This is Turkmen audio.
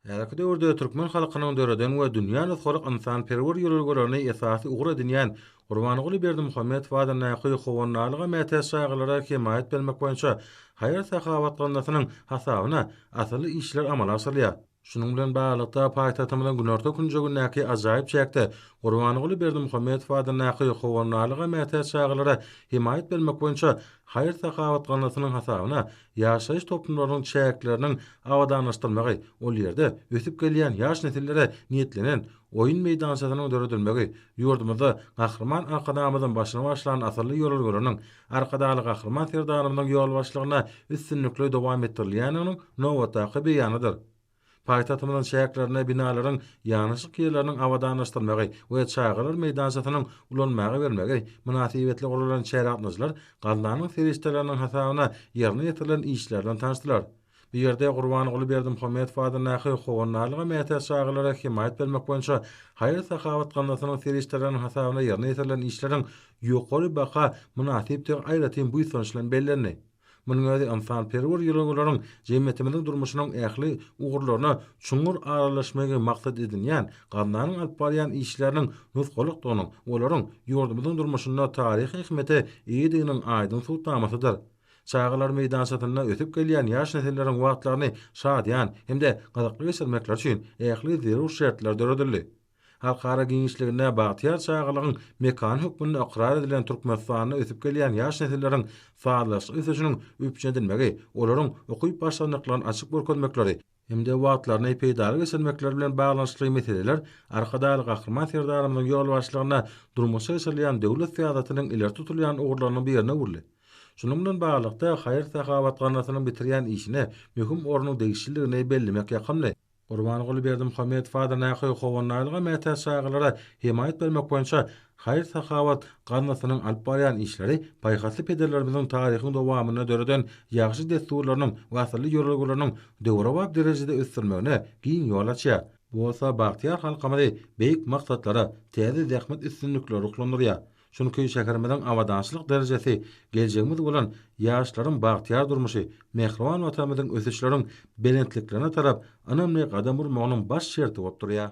Häzirki döwürde türkmen halkynyň döreden we dünýä nusgalyk ynsanperwer ýörelgelerini esasy ugur edinýän Gurbanguly Berdimuhamedow adyndaky Howandarlyga mätäç çagalara hemaýat bermek boýunça haýyr-sahawat gaznasynyň hasabyna asylly işler amala aşyrylýar. Şunuň bilen baglylykda, paýtagtymyzyň günorta künjegindäki ajaýyp çäkde Gurbanguly Berdimuhamedow adyndaky Howandarlyga mätäç çagalara hemaýat bermek boýunça haýyr-sahawat gaznasynyň hasabyna Ýaşaýyş toplumlarynyň çäkleriniň abadanlaşdyrylmagy, ol ýerde ösüp gelýän ýaş nesillere niýetlenen oýun meýdançasynyň döredilmegi ýurdumyzda Gahryman Arkadagymyzyň başyny başlan asylly ýörelgeleriniň Arkadagly Gahryman Serdarymyzyň ýolbaşçylygynda üstünlikli dowam etdirilýändiginiň nobatdaky beýanydyr. Paýtagtymyzyň çäklerinde binalaryň ýanaşyk ýerleriniň abadanlaşdyrmagy we çagalar meýdançasynyň ulanmaga bermegi mynasybetli guralan çärä gatnaşyjylar gaznanyň serişdeleriniň hasabyna ýerine ýetirilen işler bilen tanyşdylar. Bu ýerde Gurbanguly Berdimuhamedow adyndaky Howandarlyga mätäç çagalara hemaýat bermek boýunça haýyr-sahawat gaznasynyň serişdeleriniň hasabyna ýerine ýetirilen işleriň ýokary baha mynasypdygy aýratyn buýsanç bilen bellendi. Munuň özi ynsanperwer ýörelgeleriň jemgyýetimiziň durmuşynyň ähli ugurlaryna çuňňur aralaşmagy maksat edinýän gaznanyň alyp barýan işleriniň nusgalykdygynyň, olaryň ýurdumyzyň durmuşynda taryhy ähmiýete eýediginiň aýdyň subutnamasydyr. Çagalar meýdançasynda ösüp gelýän ýaş nesilleriň wagtlaryny şadyýan hem-de gyzykly geçirmekleri üçin ähli zerur şertler döredildi. Halkara giňişliginde bagtyýar çagalygyň mekany hökmünde ykrar edilen Türkmenistanda ösüp gelýän ýaş nesilleriň sazlaşykly ösüşiniň üpjün edilmegi, olaryň ukyp başlandyklaryny açyp görkezmekleri hem-de wagtlaryny peýdaly geçirmekleri bilen baglanyşykly meseleler Arkadagly Gahryman Serdarymyzyň ýolbaşçylygynda durmuşa geçirilýän döwlet syýasatynyň ileri tutulýan ugurlarynyň birine öwrüldi. Şunuň bilen baglylykda, haýyr-sahawat ganatynyň bitirýän işine möhüm ornuň degişliligini bellemek ýakymly. Gurbanguly Berdimuhamedow adyndaky Howanaýylga mätäç çagalara hemaýat bermek boýunça haýyr-sahawat gaznasynyň alyp barýan işleri paýhasly pederlerimiziň taryhyň dowamynda döreden ýagşy dessurlarynyň we asylly ýörelgeleriniň döwrebap derejede ösdürilmegine giň ýol açýar. Bu bolsa bagtyýar halkymyzy beýik maksatlara, täze zähmet üstünlikleri ruhlandyrýar. Çünki şäherimiziň abadançylyk derejesi, geljegimiz bolan ýaşlaryň bagtyýar durmuşy, mähriban Watanymyzyň ösüşleriň belentliklerine tarap ynamly gadam urmagynyň baş şerti bolup durýar.